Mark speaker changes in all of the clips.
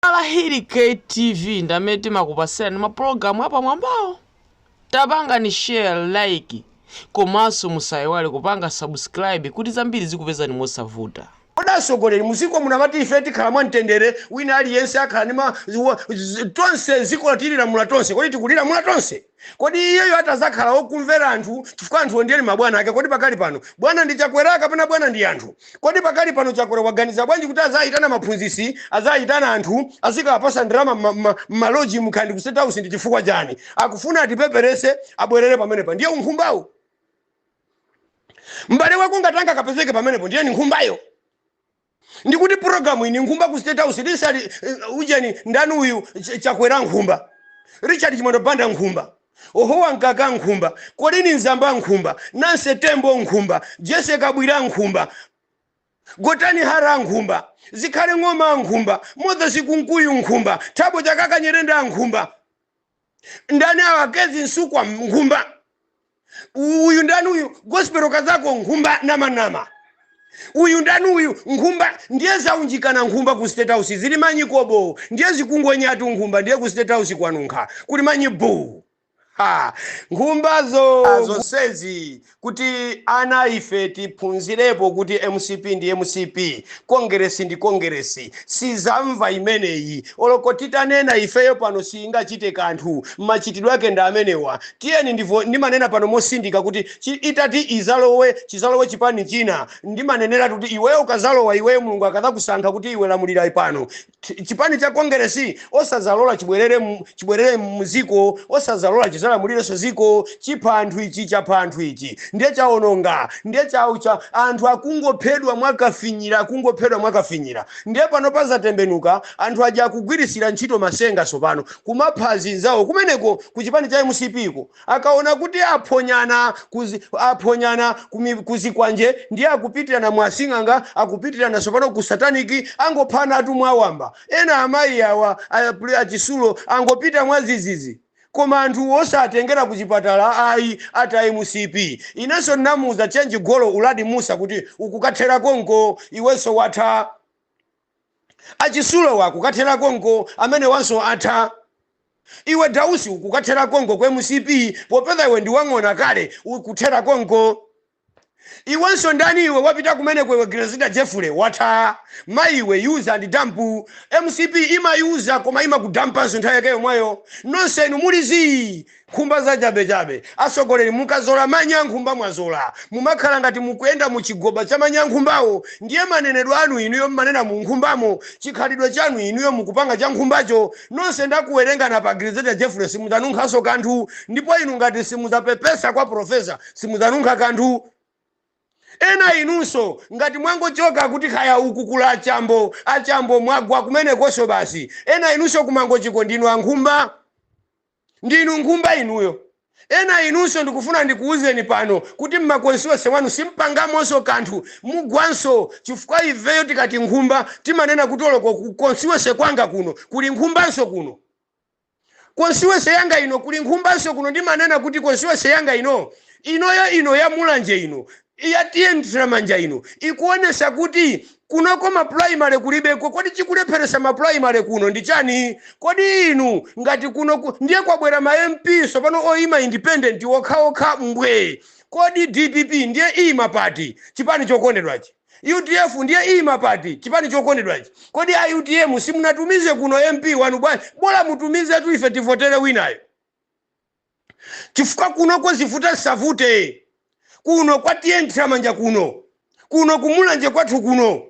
Speaker 1: Alahiri KTV ndi amene timakupasirani ma program apamwambawo tapangani share like komanso musaiwale kupanga subscribe kuti zambiri zikupezani mosavuta. Kodi
Speaker 2: atsogoleri muziko muno amati ife tikhala mwa mtendere wina aliyense akhala ndima tonse ziko tililamula tonse kodi tikulilamula tonse? Kodi iyeyo atazakhala wokumvera anthu chifukwa anthuwo ndiye ndi mabwana ake kodi pakali pano bwana ndi Chakwera kapena bwana ndi anthu kodi pakali pano Chakwera waganiza bwanji kuti azayitana maphunzisi azayitana anthu azikawapasa ndalama m'ma m'ma m'maloji mka ndi ku state house ndi chifukwa chani akufuna atipeperese abwerere pamenepa ndiye unkhumbawu m'bale wako ngati angakapezeke pamenepo ndiye ndi nkhumbayo Ndikuti program iyi ndi nkhumba ku state house Richard eh, ujeni ndani uyu Ch- Chakwera nkhumba Richard Chimwendo Banda nkhumba Eisenhower Mkaka nkhumba Colleen Zamba nkhumba Nancy Tembo nkhumba Jessie Kabwila nkhumba Gotani Hara nkhumba Zikhale Ng'oma nkhumba Moses Kunkuyu nkhumba Thabo Chakaka Nyirenda nkhumba ndani awa Kezzie Msukwa nkhumba U- uyu ndani uyu Gospel Kazako nkhumba namanama uyu ndani uyu nkhumba ndiye zaunjikana nkhumba ku state house zili manyi kobo ndiye zikungonyeratu nkhumba ndiye ku state house kwanunkha kuli manyi buu ha nkhumbazo zonsezi kuti ana ife tiphunzirepo kuti mcp ndi mcp, kongeresi ndi kongeresi, sizamva imeneyi oloko titanena ifeyo pano siingachite kanthu, machitidwe ake ndi amenewa, tiyeni ndivo, ndimanena pano motsindika kuti chi, itati izalowe, chizalowe chipani china, ndimaneneratu kuti iweyo ukazalowa iweyo Mulungu akadzakusankha kuti iwe lamulira pano, Chi- chipani cha kongeresi osazalola chibwerere mu- chibwerere muziko osazalola chizalamulirenso ziko chipha anthu ichi chapha anthu ichi ndiye chaononga ndiye chau cha anthu akungophedwa mwakafinyira akungophedwa mwakafinyira ndiye pano pazatembenuka anthu aja akugwirisira ntchito matsenga tsopano kumapha azinzawo kumeneko ku chipani cha mcp ko Akaona kuti aphonyana ku aphonyana ku mi ku zikwanje ndiye akupitirana mwa asing'anga akupitirana tsopano ku satanic angophanatu mwawamba. Ena amayi awa a pr a Chitsulo angopita mwadzidzidzi. Koma anthu osatengera ku chipatala ayi ati a mcp. Inenso ndinamuuza Chenji Golo Uladi Mussa kuti ukukathera konko iwenso watha. A Chitsulowa kukathera konko amenewanso atha. Iwe Dausi ukukathera konko ku mcp popeza iwe ndi wa ng'ona kale ukuthera konko. Iwenso ndani iwe wapita kumeneko iwe Grezelder Jeffrey watha mayi iwe use and dump mcp imayuza koma imakudampanso nthawi yake yomweyo nonse inu muli zii Nkhumba za chabe chabe. Atsogoleri mukazola manyi a nkhumba mwazola. Mumakhala ngati mukuyenda mu chigoba cha manyi a nkhumbawo ndiye manenedwe anu inuyo mmanena mu nkhumbamo, chikhalidwe chanu inuyo mukupanga cha nkhumbacho. Nonse ndakuwerengani apa Grezelder Jeffrey simudzanunkhanso kanthu ndipo inu ngati simudzapepesa kwa Professor simudzanunkha kanthu. Ena inunso ngati mwangochoka kuti kaya uku kuli a Chambo, a Chambo mwagwa kumenekonso basi. Ena inunso ku Mangochiko ndinu a nkhumba. Ndinu nkhumba inuyo. Ena inunso ndikufuna ndikuuzeni pano kuti mmaconstituency mwanu simpangamonso kanthu, mugwanso chifukwa ifeyo tikati nkhumba timanena kuti oloko ku constituency kwanga kuno kuli nkhumbanso kuno. Constituency yanga ino kuli nkhumbanso kuno ndimanena kuti constituency yanga ino, inoyo ino ya Mulanje ino Ya T/A Nthiramanja ino ikuonesa kuti kunoko ma primary kulibeko kodi chikulepheresa ma primary kuno ndi chani kodi inu ngati kuno ndiye kwabwera ma mp sopano oima independent okhaokha mbwee kodi dpp ndiye iima pati chipani chokondedwachi udf ndiye iima pati chipani chokondedwachi kodi a utm simunatumize kuno mp wanu bwanji bola mutumizetu ife tivotere winayo chifukwa kunoko zivuta zisavute kuno kwa T/A Nthiramanja kuno kuno kumulanje kwathu kuno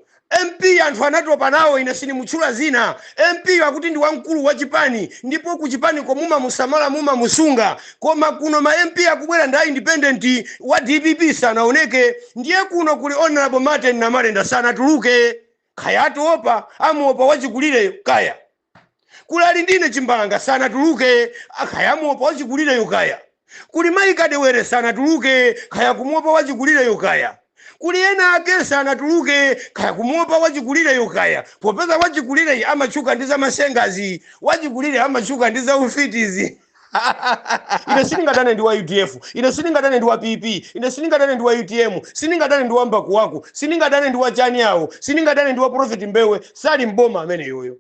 Speaker 2: mp anthu anatopa nawo ine sindimutchula zina mp akuti ndi wamkulu wa chipani ndipo ku chipaniko mumamusamala mumamusunga koma kuno ma mp akubwera ndi a independent wa dpp sanaoneke ndiye kuno kuli honorable martin namalenda sanatuluke kaya atiopa amuopa wachikulireyo kaya kuli alindine chimbalanga sanatuluke kaya amuopa wachikulireyo kaya kuli mayi kadewere sanatuluke kaya akumuopa wachikulireyo kaya kuli ena ake sanatuluke kaya akumuopa wachikulireyo kaya popeza wachikulireyi amatchuka ndi zamasengazi wachikulire amatchuka ndi zaufitizi ine sindingadane ndi wa udf ine sindingadane ndi wa pp ine sindingadane ndi wa utm sindingadane ndi wa mbakuwaku sindingadane ndi wa chani awo sindingadane ndi wa prophet mbewe sali mboma ameneyoyo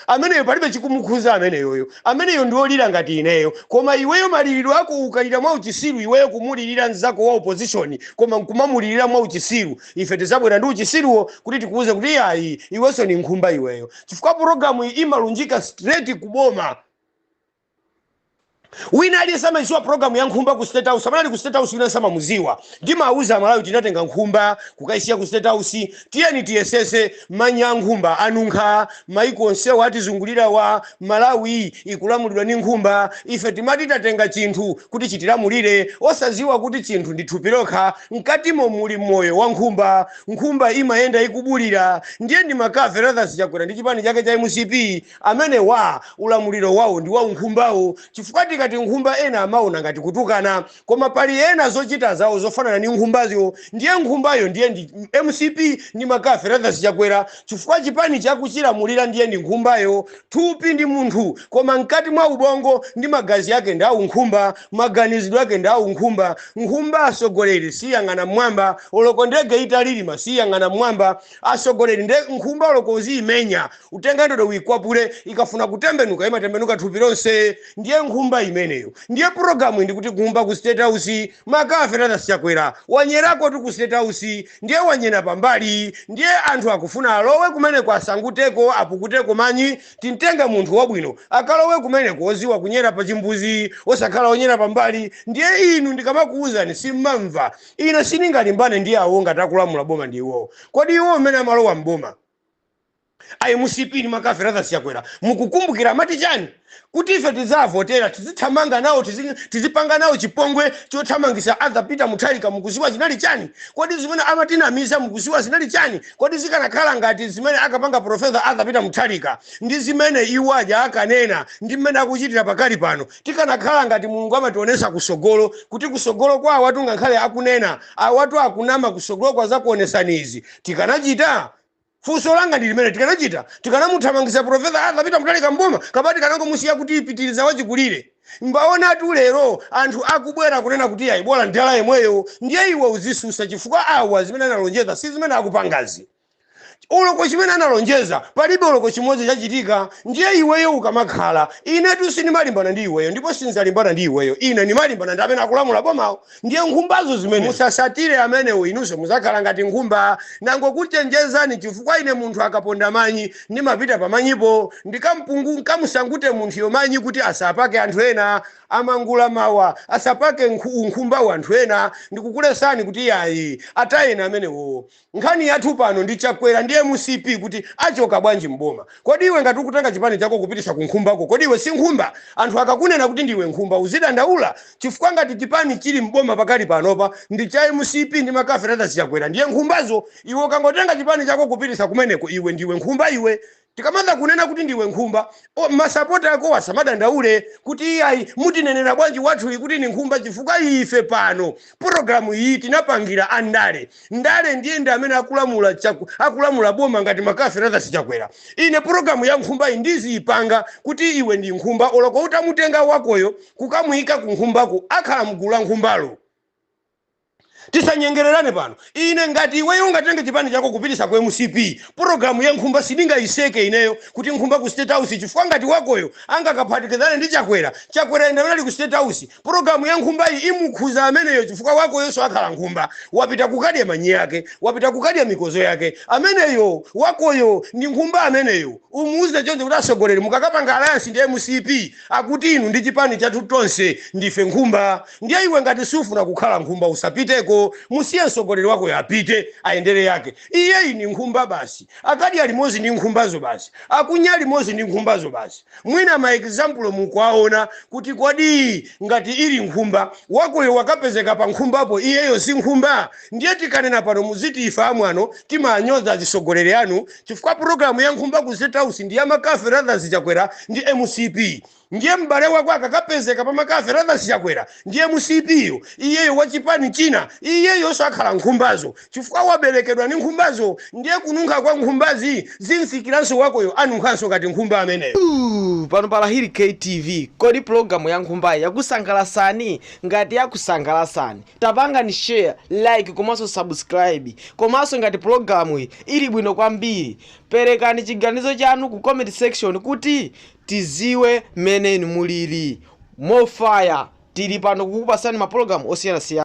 Speaker 2: ameneyo palibe chikumukhuza ameneyoyo ameneyo ndiolira ngati ineyo koma iweyo maliliro ako ukalira mwa uchisiru iweyo kumulilira mzako wa opposition koma nkumamulilira mwa uchisiru ife tizabwera ndi uchisiruwo kuti tikuuze kuti iyayi iwenso ni nkhumba iweyo chifukwa programu iyi imalunjika straight kuboma wina aliyense amayiziwa program ya nkhumba ku state house amene ali ku state house wina samamuziwa ndimawuza amalawi tinatenga nkhumba kukayisiya ku state house tiyeni tiyesese manyi a nkhumba anunkha maiko onsewa atizungulirawa malawi ikulamulidwa ndi nkhumba ife timati tatenga chinthu kuti chitilamulire osaziwa kuti chinthu ndi thupi lokha mkatimo muli moyo wa nkhumba nkhumba imayenda ikubulira ndiye ndi mccarthy lazarus chakwera ndi chipani chake cha mcp Amenewa ulamuliro wawo ndi wa unkhumbawo chifukwa tikati nkhumba ena amaona ngati kutukana koma pali ena zochita zawo zofanana ndi nkhumbazo ndiye nkhumbayo ndiye ndi mcp ndi McCarthy Lazarus Chakwera chifukwa chipanichi akuchilamulira ndiye ndi nkhumbayo thupi ndi munthu koma mkati mwa ubongo ndi magazi ake ndi aunkhumba maganizidwe ake ndi aunkhumba nkhumba asogoleri siyang'ana mmwamba oloko ndege italilima siyang'ana mmwamba asogoleri nde nkhumba oloko uziimenya utenga ndodo uikwapule ikafuna kutembenuka imatembenuka thupi lonse ndiye nkhumba imeneyo ndiye pulogalamu ndi kuti nkhumba ku state house McCarthy Lazarus Chakwera wanyerakotu ku state house ndiye wanyera pambali ndiye anthu akufuna alowe kumeneko asanguteko apukuteko manyi tintenge munthu wabwino akalowe kumeneko oziwa kunyera pa chimbuzi osakhala onyera pambali ndiye inu ndikamakuwuzani simmamva ine sindingalimbane ndi awo ngati akulamula boma ndi iwowo kodi iwo mmene amalowa mboma a mcp ndi McCarthy Lazarus Chakwera mukukumbukira amati chani kuti ife tidzavotera tizithamanga nawo tizi- tizipanga nawo chipongwe chothamangisa Arthur peter mutharika mukuziwa zinali chani kodi zimene amatinamiza mukuziwa zinali chani kodi zikanakhala ngati zimene akapanga profesa Arthur peter mutharika ndi zimene iwo aja akanena ndi mmene akuchitira pakali pano tikanakhala ngati mulungu amationesa kusogolo kuti kusogolo kwa awatu ngakhale akunena awatu akunama kusogolo kwa zakuonesani izi Tikanachita? Funso langa ndi limeneli, tikanachita? Tikanamuthamangitsa Professor Arthur Peter Mutharika m'boma kapena tikanangomusiya kuti pitiriza wachikulire? Mwaonatu lero anthu akubwera kunena kuti iyayi bola mdala yemweyo. Ndiye iwe uzisusa chifukwa awa zimene analonjeza si zimene akupangazi. Oloko chimene analonjeza palibe oloko chimodzi chachitika. Ndiye iweyo ukamakhala, inetu sindimalimbana ndi iweyo ndipo sindzalimbana ndi iweyo. Ine ndimalimbana ndi amene akulamula bomawo. Ndiye nkhumbazo zimenezo. Musasatire amenewo inunso muzakhala ngati nkhumba. Ndangokuchenjezani chifukwa ine munthu akaponda manyi, ndimapita pa manyipo ndikamu- nkamusangute munthuyo manyi kuti asapake anthu ena. Amangula mawa asapake unkhumbawu anthu ena. Ndikukulesani kuti yayi, atayeni amenewo. Nkhani yathu pano ndi chakwera ndi mcp kuti achoka bwanji m'boma. Kodi iwe ngati ukutenga chipani chako kupitisa ku nkhumbako kodi iwe si nkhumba? Anthu akakunena kuti ndiwe nkhumba uzidandaula? Chifukwa ngati chipani chili m'boma pakali panopa ndi cha mcp ndi McCarthy Lazarus Chakwera ndiye nkhumbazo iwe ukangotenga chipani chako kupitisa kumeneko iwe ndiwe nkhumba iwe? Tikamazakunena kuti ndiwe nkhumba, o, masapota akowo asamadandaule kuti iyayi mutinenera bwanji wathuyu kuti ndi nkhumba chifukwa ife pano pologalamu iyi tinapangira a ndale. Ndale ndiye ndi amene akulamula boma ngati McCarthy Lazarus Chakwera. Ine pologalamu ya nkhumba iyi ndiziyipanga kuti iwe ndi nkhumba oloko utamutenga wakoyo kukamuyika ku nkhumbako akhala mgulu la nkhumbalo. Tisanyengererane pano. Ine ngati iweyo ungatenge chipani chako kupitisa ku mcp program ya nkhumba sindingaiseke ineyo kuti nkhumba ku state house chifukwa ngati wakoyo angakaphatikizane ndi chakwera chakwerayo ndamene ali ku state house program ya nkhumbayi imukhuza ameneyo chifukwa wakoyoso akhala nkhumba wapita kukadya manyi ake wapita kukadya mikozo yake ameneyo wakoyo ndi nkhumba ameneyo umuuze chonde kuti asogoleri mukakapanga alliance ndi mcp Akuti inu ndi chipani chathu tonse ndife nkhumba ndiye iwe ngati sufuna kukhala nkhumba usapiteko musiye msogoleri wakoyo apite ayendele yake iyeyi ndi nkhumba basi akadya limozi ndi nkhumbazo basi akunya limozi ndi nkhumbazo basi mwina ma example mukuwaona kuti kodi ngati ili nkhumba wakoyo wakapezeka pa nkhumbapo iyeyo si nkhumba ndiye tikanena pano muziti ife amwano timanyoza azisogoleri anu chifukwa program ya nkhumba ku state house ndi ya mccarthy lazarus chakwera ndi mcp ndiye m'bale wako akakapezeka pa mccarthy lazarus chakwera ndi mcp yo iyeyo wa chipani china iyeyonso akhala nkhumbazo chifukwa waberekedwa ndi nkhumbazo ndiye kununkha kwa nkhumbazi zimfikiranso wakoyo anunkhanso ngati nkhumba ameneyo Ooh, pano pa
Speaker 1: lahiri ktv kodi pulogalamu ya nkhumbayi yakusangalasani ngati yakusangalasani Tapangani share, like komanso subscribe. Komanso ngati pulogalamuyi ili bwino kwambiri, perekani chiganizo chanu ku comment section kuti tiziwe mmene inu mulili. More fire! Tili pano kukupasani mapulogalamu osiyanasiyana.